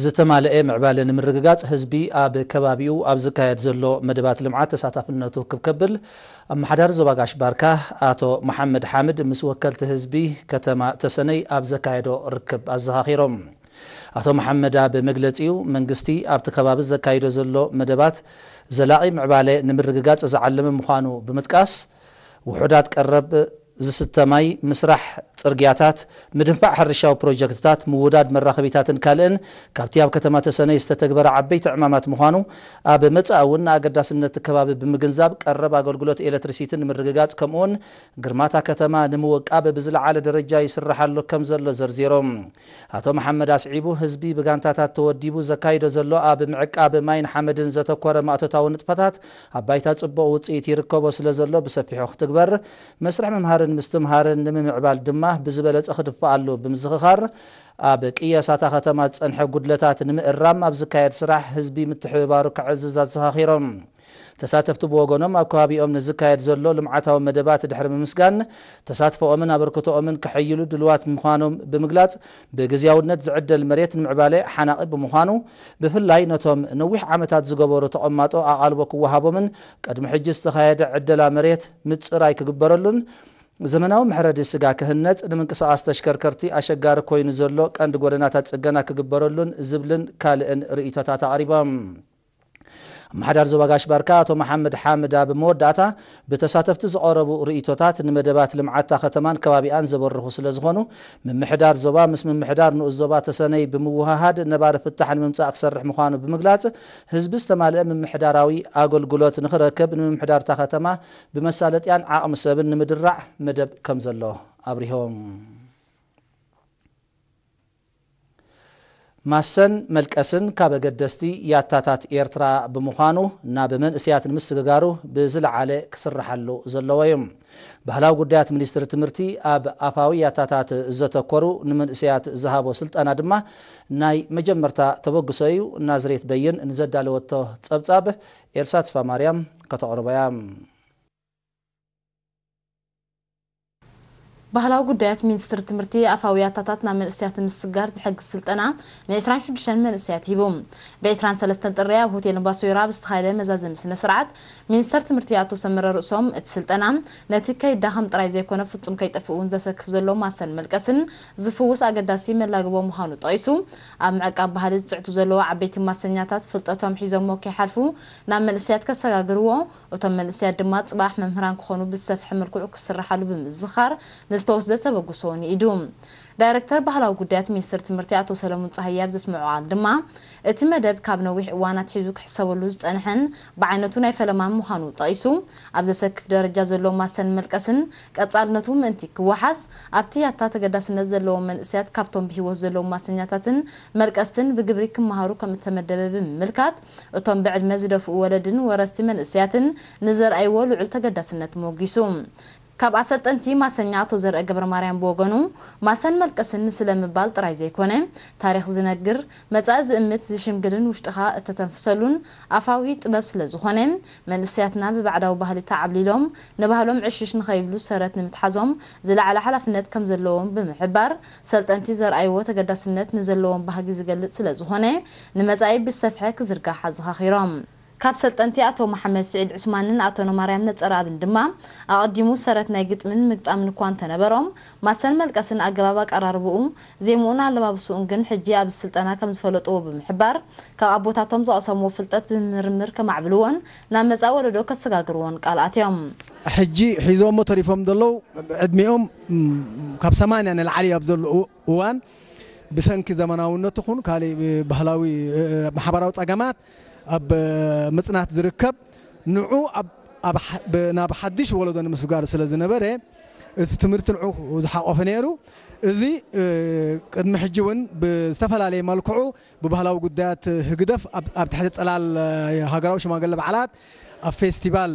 ዝተማለኤ ምዕባለ ንምርግጋፅ ህዝቢ ኣብ ከባቢኡ ኣብ ዝካየድ ዘሎ መደባት ልምዓት ተሳታፍነቱ ክብ ከብል ኣመሓዳሪ ዞባ ጋሽ ባርካ ኣቶ መሓመድ ሓምድ ምስ ወከልቲ ህዝቢ ከተማ ተሰነይ ኣብ ዘካየዶ ርክብ ኣዘኻኺሮም። ኣቶ መሓመድ ኣብ መግለፂኡ መንግስቲ ኣብቲ ከባቢ ዘካይዶ ዘሎ መደባት ዘላቒ ምዕባለ ንምርግጋፅ ዝዓለመ ምዃኑ ብምጥቃስ ውሑዳት ቀረብ ዝስተ ማይ፣ ምስራሕ ጽርግያታት፣ ምድንፋዕ ሕርሻዊ ፕሮጀክትታት፣ ምውዳድ መራኸቢታትን ካልእን ካብቲ ኣብ ከተማ ተሰነይ ዝተተግበረ ዓበይቲ ዕማማት ምዃኑ፣ ኣብ መጻኢ እውን ንኣገዳስነት'ቲ ከባቢ ብምግንዛብ ቀረብ ኣገልግሎት ኤለትሪሲቲ ንምርግጋጽ ከምኡ'ውን ግርማ'ታ ከተማ ንምውቃብ ብዝለዓለ ደረጃ ይስረሓሉ ከምዘሎ ዘርዚሩ። ኣቶ መሓመድ ኣስዒቡ፣ ህዝቢ ብጋንታታት ተወዲቡ ዘካይዶ ዘሎ ኣብ ምዕቃብ ማይን ሓመድን ዘተኮረ ማእቶታዊ ንጥፈታት ኣብ ባይታ ፅቡቕ ውፅኢት ይርከቦ ስለዘሎ ብሰፊሑ ክትግበር፣ መስርሕ ምምሃርን ምስትምሃርን ንምምዕባል ድማ ብዝበለፀ ክድፋኣሉ ብምዝኽኻር ኣብ ቅየሳ እታ ከተማ ዝፀንሐ ጉድለታት ንምእራም ኣብ ዝካየድ ስራሕ ህዝቢ ምትሕብባሩ ከዕዝዝ ኣዘኻኺሮም። ተሳተፍቲ ብወገኖም ኣብ ከባቢኦም ንዝካየድ ዘሎ ልምዓታዊ መደባት ድሕሪ ምምስጋን ተሳትፎኦምን ኣበርክቶኦምን ከሐይሉ ድሉዋት ምዃኖም ብምግላፅ ብግዝያውነት ዝዕደል መሬት ንምዕባለ ሓናቒ ብምዃኑ ብፍላይ ነቶም ነዊሕ ዓመታት ዝገበሩ ተቐማጦ ኣቓልቦ ክወሃቦምን ቅድሚ ሕጂ ዝተኻየደ ዕደላ መሬት ምጽራይ ክግበረሉን ዘመናዊ መሕረዲ ስጋ ክህነጽ ንምንቅስቓስ ተሽከርከርቲ ኣሸጋሪ ኮይኑ ዘሎ ቀንዲ ጎደናታት ጽገና ክግበረሉን ዝብልን ካልእን ርእይቶታት ኣቕሪቦም። ኣመሓዳሪ ዞባ ጋሽ ባርካ ኣቶ መሓመድ ሓምድ ኣብ መወዳእታ፣ ብተሳተፍቲ ዝቐረቡ ርእይቶታት ንመደባት ልምዓት'ታ ከተማን ከባቢኣን ዘበርኹ ስለዝኾኑ፣ ምምሕዳር ዞባ ምስ ምምሕዳር ንኡስ ዞባ ተሰነይ ብምውህሃድ ነባሪ ፍታሕ ንምምጻእ ክሰርሕ ምዃኑ ብምግላጽ፣ ህዝቢ ዝተማልአ ምምሕዳራዊ ኣገልግሎት ንኽረክብ ንምምሕዳር'ታ ከተማ ብመሳለጥያን ዓቕሚ ሰብን ንምድራዕ መደብ ከምዘሎ ኣብሪሆም። ማሰን መልቀስን ካብ ኣገደስቲ ያታታት ኤርትራ ብምዃኑ ናብ መንእሰያት ንምስግጋሩ ብዝለዓለ ክስርሓሉ ዘለዎ እዩ። ባህላዊ ጉዳያት ሚኒስትሪ ትምህርቲ ኣብ ኣፋዊ ያታታት ዘተኮሩ ንመንእሰያት ዝሃቦ ስልጠና ድማ ናይ መጀመርታ ተበግሶ እዩ፣ ናዝሬት በይን ንዘዳለወቶ ጸብጻብ ኤልሳ ተስፋማርያም ከተቕርቦ እያ። ባህላዊ ጉዳያት ሚንስትሪ ትምህርቲ ኣፋዊ ያታታት ናብ መንእሰያት ንምስግጋር ዝሕግዝ ስልጠና ን ዕስራን ሽዱሽተን መንእሰያት ሂቡ። ብ ዕስራን ሰለስተን ጥሪ ኣብ ሆቴል እምባሶይራ ኣብ ዝተኻየደ መዛዘሚ ስነ ስርዓት፣ ሚንስተር ትምህርቲ ኣቶ ሰመረ ርእሶም፣ እቲ ስልጠና ነቲ ከይዳኸም ጥራይ ዘይኮነ ፍጹም ከይጠፍእ እውን ዘሰክፍ ዘሎ ማሰን መልቀስን ዝፍውስ ኣገዳሲ መላግቦ ምዃኑ ጠቒሱ፣ ኣብ ምዕቃብ ባህሊ ዝጽዕቱ ዘለዉ ዓበይቲ ማሰኛታት ፍልጠቶም ሒዞሞ ከይሓልፉ ናብ መንእሰያት ከሰጋግርዎ እቶም መንእሰያት ድማ ጽባሕ መምህራን ክኾኑ ብዝሰፍሐ መልክዑ ክስርሓሉ ብምዝኻር ንዝተወስደ ተበግሶ እውን ይኢዱ። ዳይረክተር ባህላዊ ጉዳያት ሚኒስትሪ ትምህርቲ ኣቶ ሰለሙን ጸሃየ ኣብ ዘስመዖ ቃል ድማ፣ እቲ መደብ ካብ ነዊሕ እዋን ኣትሒዙ ክሕሰበሉ ዝጸንሐን ብዓይነቱ ናይ ፈለማን ምዃኑ ጠቒሱ፣ ኣብ ዘሰክፍ ደረጃ ዘሎ ማሰን መልቀስን ቀጻልነቱ ምእንቲ ክወሓስ፣ ኣብቲ ያታ ተገዳስነት ዘለዎም መንእሰያት ካብቶም ብህይወት ዘለዉ ማሰኛታትን መልቀስትን ብግብሪ ክመሃሩ ከምእተመደበ ብምምልካት፣ እቶም ብዕድመ ዝደፍኡ ወለድን ወረስቲ መንእሰያትን ንዘርኣይዎ ልዑል ተገዳስነት ሞጒሱ። ካብ ኣሰልጠንቲ ማሰኛ ኣቶ ዘርአ ገብረማርያም ብወገኑ፣ ማሰን መልቀስን ንስለ ምባል ጥራይ ዘይኮነ፣ ታሪኽ ዝነግር፣ መጻኢ ዝእምት፣ ዝሽምግልን ውሽጥኻ እተተንፍሰሉን ኣፋዊ ጥበብ ስለ ዝኾነ፣ መንእሰያትና ብባዕዳዊ ባህሊ ተዓብሊሎም ንባህሎም ዕሽሽ ንኸይብሉ ሰረት ንምትሓዞም ዝለዓለ ሓላፍነት ከም ዘለዎም ብምሕባር፣ ሰልጠንቲ ዘርኣይዎ ተገዳስነት ንዘለዎም ባህጊ ዝገልፅ ስለዝኾነ ንመፃኢ ብዝሰፍሐ ክዝርጋሕ ኣዘኻኺሮም። ካብ ሰልጠንቲ ኣቶ መሓመድ ስዒድ ዑስማንን ኣቶ ነማርያም ነፀረኣብን ድማ ኣቐዲሙ ሰረት ናይ ግጥሚን ምግጣምን እኳ እንተነበሮም ማሰን መልቀስን ኣገባብ ኣቀራርብኡ፣ ዜምኡን ኣለባብስኡን ግን ሕጂ ኣብዚ ስልጠና ከምዝፈለጥዎ ብምሕባር ካብ ኣቦታቶም ዘቐሰምዎ ፍልጠት ብምምርምር ከማዕብልዎን ናብ መፃኢ ወለዶ ከሰጋግርዎን ቃል ኣትዮም። ሕጂ ሒዞሞ ተሪፎም ዘለዉ ዕድሚኦም ካብ ሰማንያ ንላዕሊ ኣብ ዘሎ እዋን ብሰንኪ ዘመናውነት ይኹን ካሊእ ባህላዊ ማሕበራዊ ፀገማት ኣብ ምፅናት ዝርከብ ንዑ ናብ ሓዱሽ ወለዶ ንምስጋር ስለ ዝነበረ እቲ ትምህርቲ ንዑ ዝሓቆፈ ነይሩ። እዚ ቅድሚ ሕጂ እውን ብዝተፈላለየ መልክዑ ብባህላዊ ጉዳያት ህግደፍ ኣብ ትሕቲ ጽላል ሃገራዊ ሽማግለ በዓላት ኣብ ፌስቲቫል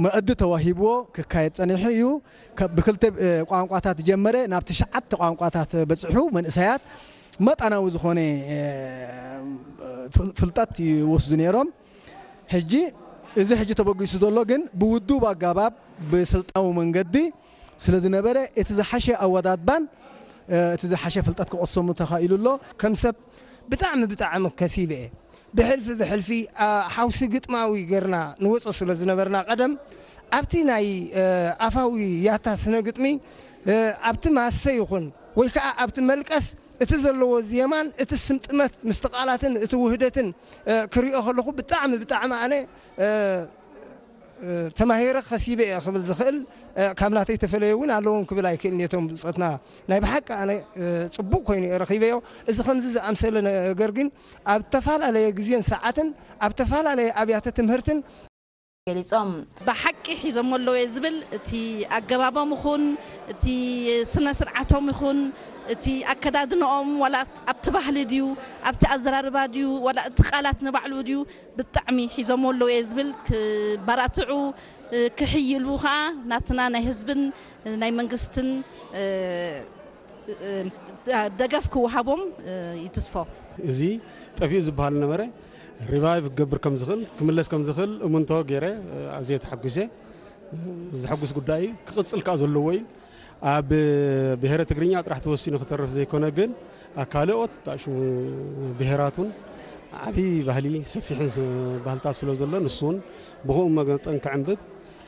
መኣዲ ተዋሂብዎ ክካየድ ጸኒሑ እዩ። ብክልተ ቋንቋታት ዝጀመረ ናብ ትሽዓተ ቋንቋታት በጺሑ መንእሰያት መጠናዊ ዝኾነ ፍልጠት ይወስዱ ነይሮም። ሕጂ እዚ ሕጂ ተበጊሱ ዘሎ ግን ብውዱብ ኣጋባብ ብስልጣዊ መንገዲ ስለ ዝነበረ እቲ ዝሓሸ ኣወዳድባን እቲ ዝሓሸ ፍልጠት ክቕሰሙ ተኻኢሉ ኣሎ። ከም ሰብ ብጣዕሚ ብጣዕሚ ከሲበ'የ። ብሕልፊ ብሕልፊ ሓውሲ ግጥማዊ ጌርና ንወጾ ስለ ዝነበርና ቀደም ኣብቲ ናይ ኣፋዊ ያታ ስነ ግጥሚ ኣብቲ ማሰ ይኹን ወይ ከኣ ኣብቲ መልቀስ እቲ ዘለዎ ዜማን እቲ ስምጥመት ምስቲ ቃላትን እቲ ውህደትን ክሪኦ ከለኹ ብጣዕሚ ብጣዕሚ ኣነ ተማሂረ ከሲበ እየ ክብል ዝኽእል ካብ ናተይ ተፈለዮ እውን ኣለዎም ክብል ኣይክእልን እየ እቶም ብፆትና ናይ ብሓቂ ኣነ ፅቡቕ ኮይኑ እየ ረኺበዮ እዚ ከምዚ ዝኣምሰለ ነገር ግን ኣብ ተፈላለየ ግዜን ሰዓትን ኣብ ተፈላለየ ኣብያተ ትምህርትን ገሊፆም። ብሓቂ ሒዞሞ ኣለዉ እየ ዝብል እቲ ኣገባቦም ይኹን እቲ ስነ ስርዓቶም ይኹን እቲ ኣከዳድነኦም ዋላ ኣብቲ ባህሊ ድዩ ኣብቲ ኣዘራርባ ድዩ ዋላ እቲ ቃላት ንባዕሉ ድዩ ብጣዕሚ ሒዞምዎ ኣለዉ እየ ዝብል ክበራትዑ ክሕይሉ ከኣ ናትና ናይ ህዝብን ናይ መንግስትን ደገፍ ክወሃቦም ይትስፎ። እዚ ጠፊኡ ዝብሃል ዝነበረ ሪቫይቭ ክገብር ከም ዝኽእል ክምለስ ከም ዝኽእል እምንቶ ገይረ ኣዝየ ተሓጒሰ። ዘሐጉስ ጉዳይ እዩ ክቕጽል ከኣ ዘለዎ እዩ። ኣብ ብሄረ ትግርኛ ጥራሕ ተወሲኑ ክተርፍ ዘይኮነ ግን ኣብ ካልኦት ዳሽሙ ብሄራት እውን ዓብዪ ባህሊ ሰፊሕን ባህልታት ስለ ዘሎ ንሱ እውን ብኸኡ መጠን ክዕንብብ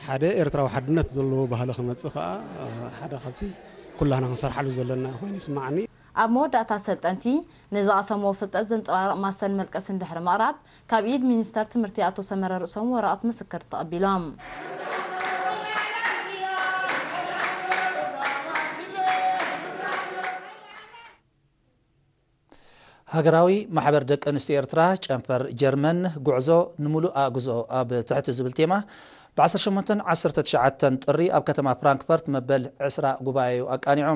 ሓደ ኤርትራዊ ሓድነት ዘለዎ ባህሊ ክመፅእ ከዓ ሓደ ካብቲ ኩላህና ክንሰርሓሉ ዘለና ኮይኑ ይስማዓኒ። ኣብ መወዳእታ ሰልጠንቲ ንዝቐሰምዎ ፍልጠት ዘንጸባርቕ ማስተን መልቀስን ድሕሪ ምቕራብ፣ ካብ ኢድ ሚኒስተር ትምህርቲ ኣቶ ሰመረ ርእሶም ወረቐት ምስክር ተቐቢሎም። ሃገራዊ ማሕበር ደቂ ኣንስትዮ ኤርትራ ጨንፈር ጀርመን ጉዕዞ ንምሉእ ኣእግዞ ኣብ ትሕቲ ዝብል ቴማ ብ ዓሰርተ ሸሞንተን ዓሰርተ ትሽዓተን ጥሪ ኣብ ከተማ ፍራንክፈርት መበል ዕስራ ጉባኤኡ ኣቃኒዑ።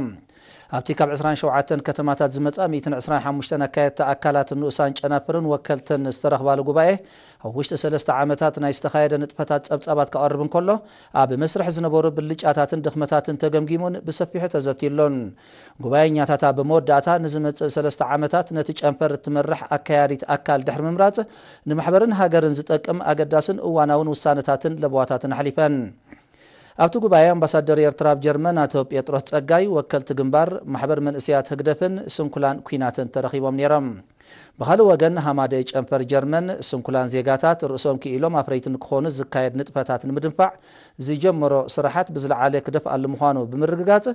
ኣብቲ ካብ ዕስራን ሸውዓተን ከተማታት ዝመጻ ሚእትን ዕስራን ሓሙሽተን ኣካየድቲ ኣካላት ንኡሳን ጨናፍርን ወከልትን ዝተረኽባሉ ጉባኤ ኣብ ውሽጢ ሰለስተ ዓመታት ናይ ዝተኻየደ ንጥፈታት ጸብጻባት ከቐርብ እንከሎ ኣብ መስርሕ ዝነበሩ ብልጫታትን ድኽመታትን ተገምጊሙን ብሰፊሑ ተዘትዩሉን። ጉባኤኛታት ኣብ መወዳእታ ንዝመጽእ ሰለስተ ዓመታት ነቲ ጨንፈር እትመርሕ ኣካያዲት ኣካል ድሕሪ ምምራጽ ንማሕበርን ሃገርን ዝጠቅም ኣገዳስን እዋናውን ውሳነታትን ለበዋታትን ኣሕሊፈን። ኣብቲ ጉባኤ ኣምባሳደር ኤርትራ ኣብ ጀርመን ኣቶ ጴጥሮስ ጸጋይ፣ ወከልቲ ግንባር፣ ማሕበር መንእሰያት ህግደፍን ስንኩላን ኲናትን ተረኺቦም ነይሮም። ብኻልእ ወገን ሃማደኤ ጨንፈር ጀርመን፣ ስንኩላን ዜጋታት ርእሶም ክኢሎም ኣፍረይቲ ንክኾኑ ዝካየድ ንጥፈታት ንምድንፋዕ ዝጀመሮ ስራሓት ብዝለዓለ ክደፍኣሉ ምዃኑ ብምርግጋጽ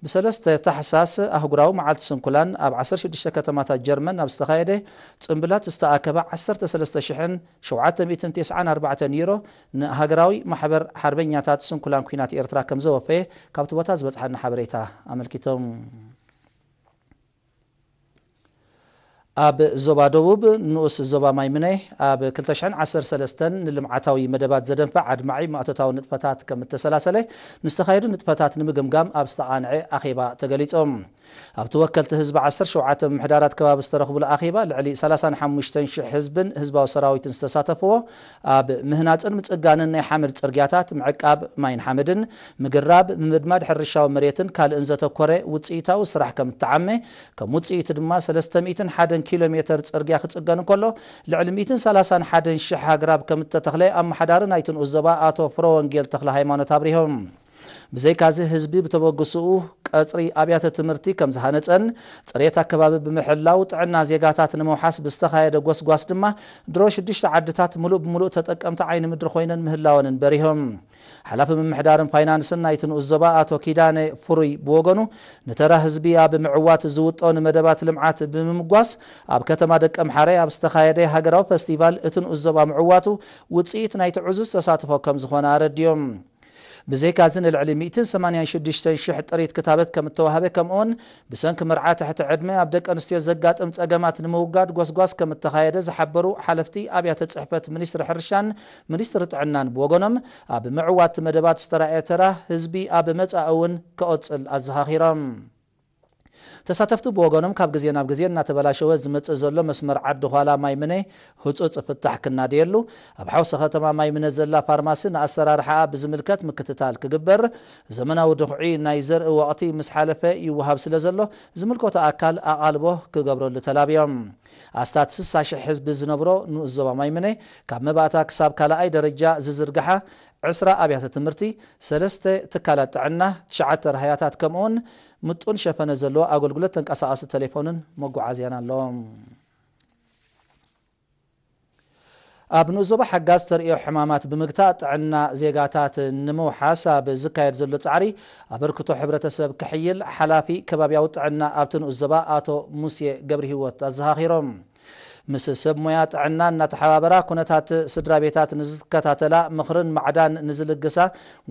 ብሰለስተ ታሕሳስ ኣህጉራዊ መዓልቲ ስንኩላን ኣብ ዓሰርተ ሽዱሽተ ከተማታት ጀርመን ኣብ ዝተኻየደ ጽምብላት ዝተኣከበ ዓሰርተ ሰለስተ ሽሕን ሸውዓተ ሚእትን ቴስዓን ኣርባዕተን ዩሮ ንሃገራዊ ማሕበር ሓርበኛታት ስንኩላን ኲናት ኤርትራ ከምዘወፈየ ካብ'ቲ ቦታ ዝበጽሓና ሓበሬታ ኣመልኪቱኣብ ዞባ ደቡብ ንኡስ ዞባ ማይ ምነይ ኣብ ክልተ ሽሕን ዓሰርተ ሰለስተን ንልምዓታዊ መደባት ዘደንፍዕ ኣድማዒ ማእቶታዊ ንጥፈታት ከምእተሰላሰለ ምስ ተኻየዱ ንጥፈታት ንምግምጋም ኣብ ዝተቓንዐ ኣኼባ ተገሊጹ። ኣብቲ ወከልቲ ህዝቢ ዓሰርተ ሸውዓተ ምምሕዳራት ከባቢ ዝተረኽቡሉ ኣኼባ ልዕሊ ሰላሳን ሓሙሽተን ሽሕ ህዝብን ህዝባዊ ሰራዊትን ዝተሳተፍዎ ኣብ ምህናፅን ምፅጋንን ናይ ሓመድ ፅርግያታት፣ ምዕቃብ ማይን ሓመድን፣ ምግራብ፣ ምምድማድ ሕርሻዊ መሬትን ካልእን ዘተኮረ ውፅኢታዊ ስራሕ ከምእተዓመ ከም ውፅኢቱ ድማ ሰለስተ ሚእትን ሓደን ኪሎ ሜተር ፅርግያ ክፅገን እንከሎ ልዕሊ ሚእትን ሰላሳን ሓደን ሽሕ ኣግራብ ከምእተተኽለ ኣመሓዳሪ ናይቲ ንኡስ ዞባ ኣቶ ፍረወንጌል ተኽለሃይማኖት ኣብሪሆም። ብዘይካዚ ህዝቢ ብተበግሶኡ ቀፅሪ ኣብያተ ትምህርቲ ከምዝሃነፀን ፅሬት ኣከባቢ ብምሕላው ጥዕና ዜጋታት ንምውሓስ ብዝተኻየደ ጎስጓስ ድማ ድሮ ሽዱሽተ ዓድታት ሙሉእ ብሙሉእ ተጠቀምቲ ዓይኒ ምድሪ ኮይነን ምህላወንን በሪሆም። ሓላፊ ምምሕዳርን ፋይናንስን ናይቲ ንኡስ ዞባ ኣቶ ኪዳነ ፍሩይ ብወገኑ ንተራ ህዝቢ ኣብ ምዕዋት ዝውጠኑ መደባት ልምዓት ብምምጓስ ኣብ ከተማ ደቀምሓረ ኣብ ዝተኻየደ ሃገራዊ ፈስቲቫል እቲ ንኡስ ዞባ ምዕዋቱ ውፅኢት ናይቲ ዕዙዝ ተሳትፎ ከምዝኾነ ኣረዲኦም። ብዘይካ'ዚ ንልዕሊ ሚእትን ሰማንያን ሽዱሽተን ሽሕ ጥሪት ክታበት ከም እተዋህበ ከምኡ'ውን ብሰንኪ መርዓ ትሕቲ ዕድመ ኣብ ደቂ ኣንስትዮ ዘጋጥም ጸገማት ንምውጋድ ጎስጓስ ከም እተኻየደ ዝሓበሩ ሓለፍቲ ኣብያተ ጽሕፈት ሚኒስትሪ ሕርሻን ሚኒስትሪ ጥዕናን ብወገኖም ኣብ ምዕዋት'ቲ መደባት ዝተራእየ ተራ ህዝቢ ኣብ መጻኢ'ውን ከኦጽል ኣዘኻኺሮም። ተሳተፍቲ ብወገኖም ካብ ግዜ ናብ ግዜ እናተበላሸወ ዝመጽእ ዘሎ መስመር ዓዲ ኋላ ማይ ምነ ህጹጽ ፍታሕ ክናደየሉ፣ ኣብ ሓውሲ ከተማ ማይ ምነ ዘላ ፋርማሲ ንኣሰራርሓኣ ብዝምልከት ምክትታል ክግበር፣ ዘመናዊ ድኹዒ ናይ ዘርኢ ወቕቲ ምስ ሓለፈ ይወሃብ ስለ ዘሎ ዝምልከቶ ኣካል ኣቓልቦ ክገብረሉ ተላብዮም። ኣስታት ስሳ ሽሕ ህዝቢ ዝነብሮ ንኡስ ዞባ ማይ ምነ ካብ መባእታ ክሳብ ካልኣይ ደረጃ ዝዝርግሓ ዕስራ ኣብያተ ትምህርቲ፣ ሰለስተ ትካላት ጥዕና፣ ትሽዓተ ራህያታት ከምኡውን ምጡን ሸፈነ ዘለዎ ኣገልግሎት ተንቀሳቓሲ ተሌፎንን መጓዓዝያን ኣሎ። ኣብ ንኡስ ዞባ ሓጋዝ ተርእዮ ሕማማት ብምግታእ ጥዕና ዜጋታት ንምውሓስ ኣብ ዝካየድ ዘሎ ጻዕሪ ኣበርክቶ ሕብረተሰብ ክሕይል ሓላፊ ከባብያዊ ጥዕና ኣብቲ ንኡስ ዞባ ኣቶ ሙሴ ገብርሂወት ኣዘኻኺሮም። ምስ ሰብ ሞያ ጥዕና እናተሓባበራ ኩነታት ስድራ ቤታት ንዝከታተላ፣ ምኽርን ማዕዳን ንዝልግሳ፣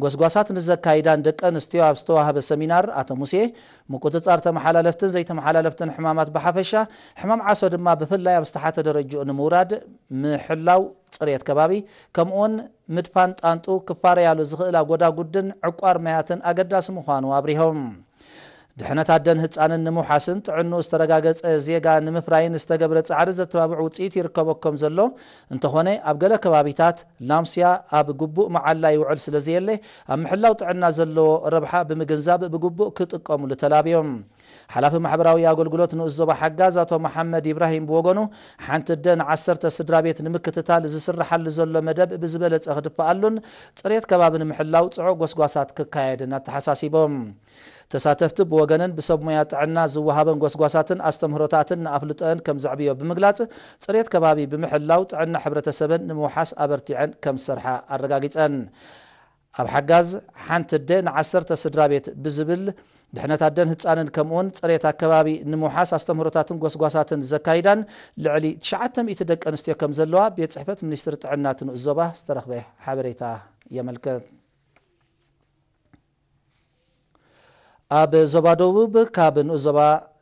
ጎስጓሳት ንዘካይዳን ደቂ ኣንስትዮ ኣብ ዝተዋህበ ሰሚናር ኣቶ ሙሴ፣ ምቁጽጻር ተመሓላለፍትን ዘይተመሓላለፍትን ሕማማት ብሓፈሻ፣ ሕማም ዓሶ ድማ ብፍላይ ኣብ ዝተሓተ ደረጅኡ ንምውራድ፣ ምሕላው ጽሬት ከባቢ፣ ከምኡ'ውን ምድፋን ጣንጡ ክፋረያሉ ዝኽእላ ጎዳጉድን ዕቋር ማያትን ኣገዳሲ ምዃኑ ኣብሪሆም። ድሕነት ኣደን ህጻንን ንምውሓስን ጥዕንኡ ዝተረጋገጸ ዜጋ ንምፍራይን ዝተገብረ ጻዕሪ ዘተባብዕ ውጽኢት ይርከቦ ከም ዘሎ፣ እንተኾነ ኣብ ገለ ከባቢታት፣ ላምስያ ኣብ ግቡእ መዓላ ይውዕል ስለ ዘየለ፣ ኣብ ምሕላው ጥዕና ዘለዎ ረብሓ ብምግንዛብ ብግቡእ ክጥቀሙሉ ተላብዮም። ሓላፊ ማሕበራዊ ኣገልግሎት ንኡስ ዞባ ሓጋዝ ኣቶ መሓመድ ኢብራሂም ብወገኑ፣ ሓንቲ ኣደ ንዓሰርተ ስድራቤት ንምክትታል ዝስርሓሉ ዘሎ መደብ ብዝበለጸ ክድፋኣሉን ጽሬት ከባቢ ንምሕላው ጽዑቕ ጎስጓሳት ክካየድን ኣተሓሳሲቦም። ተሳተፍቲ ብወገነን ብሰብ ሞያ ጥዕና ዝወሃበን ጎስጓሳትን ኣስተምህሮታትን ንኣፍልጦኤን ከምዘዕብዮ ብምግላፅ፣ ፅሬት ከባቢ ብምሕላው ጥዕና ሕብረተሰበን ንምውሓስ ኣበርቲዐን ከምዝሰርሓ ኣረጋጊፀን። ኣብ ሓጋዝ ሓንቲ ኣደ ንዓሰርተ ስድራቤት ብዝብል ድሕነት ኣደን ህፃንን ከምኡውን ፅሬት ኣከባቢ ንምውሓስ ኣስተምህሮታትን ጎስጓሳትን ዘካይዳን ልዕሊ ትሽዓተ ሚእቲ ደቂ ኣንስትዮ ከምዘለዋ ቤት ፅሕፈት ሚኒስትሪ ጥዕና እቲ ንኡስ ዞባ ዝተረኽበ ሓበሬታ የመልክት። ኣብ ዞባ ደቡብ ካብ ንኡስ-ዞባ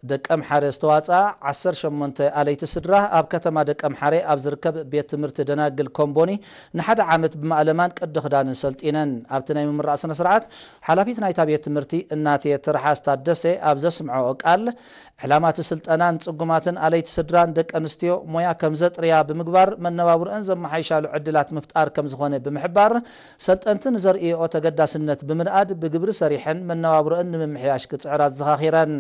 ደቀምሓረ ዝተዋጽኣ ዓሰርተ ሸሞንተ ኣለይቲ ስድራ፣ ኣብ ከተማ ደቀምሓረ ኣብ ዝርከብ ቤት ትምህርቲ ደናግል ኮምቦኒ ንሓደ ዓመት ብማእለማን ቅዲ ክዳንን ሰልጢነን። ኣብቲ ናይ ምምራቕ ስነ-ስርዓት፣ ሓላፊት ናይታ ቤት ትምህርቲ እናቴ ትርሓስ ታደሰ ኣብ ዘስምዐኦ ቃል፣ ዕላማ እቲ ስልጠና ንጽጉማትን ኣለይቲ ስድራን ደቀንስትዮ ሞያ ከምዘጥርያ ብምግባር መነባብሮኣን ዘመሓይሻሉ ዕድላት ምፍጣር ከምዝኾነ ብምሕባር፣ ሰልጠንቲ ንዘርእይኦ ተገዳስነት ብምንኣድ ብግብሪ ሰሪሐን መነባብሮኣን ንምምሕያሽ ክፅዕራ ኣዘኻኺረን።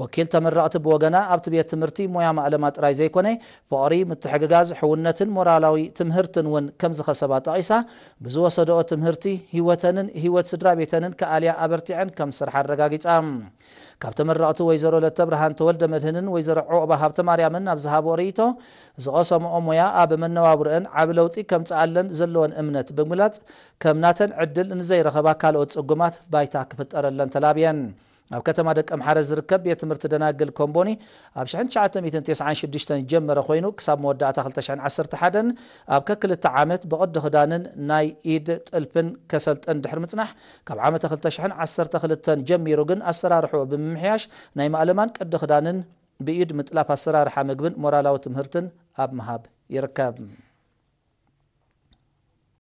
ወኪል ተመረቕቲ ብወገና ኣብቲ ቤት ትምህርቲ ሞያ ማእለማ ጥራይ ዘይኮነ ፍቕሪ፣ ምትሕግጋዝ፣ ሕውነትን ሞራላዊ ትምህርትን እውን ከምዝኸሰባ ጠቒሳ ብዝወሰደኦ ትምህርቲ ህይወተንን ህይወት ስድራ ቤተንን ክኣልያ ኣበርቲዐን ከምዝሰርሓ ኣረጋጊፃ። ካብ ተመረቕቲ ወይዘሮ ለተብርሃን ተወልደመድህንን ወይዘሮ ዑቕባ ሃብተማርያምን ኣብ ዝሃብኦ ርኢቶ፣ ዝቐሰምኦ ሞያ ኣብ መነባብሮኤን ዓቢ ለውጢ ከምጽኣለን ዘለወን እምነት ብምግላጽ፣ ከም ናተን ዕድል ንዘይረኸባ ካልኦት ጽጉማት ባይታ ክፍጠረለን ተላብየን። ኣብ ከተማ ደቀምሓረ ዝርከብ ቤት ትምህርቲ ደናግል ኮምቦኒ ኣብ ሽሕን ትሽዓተ ሚእትን ቴስዓን ሽዱሽተን ዝጀመረ ኮይኑ ክሳብ መወዳእታ ክልተ ሽሕን ዓሰርተ ሓደን ኣብ ከክልተ ዓመት ብቕዲ ክዳንን ናይ ኢድ ጥልፍን ከሰልጥን ድሕሪ ምጽናሕ ካብ ዓመተ ክልተ ሽሕን ዓሰርተ ክልተን ጀሚሩ ግን ኣሰራርሕኡ ብምምሕያሽ ናይ ማእለማን ቅዲ ክዳንን ብኢድ ምጥላፍ ኣሰራርሓ ምግብን ሞራላዊ ትምህርትን ኣብ ምሃብ ይርከብ።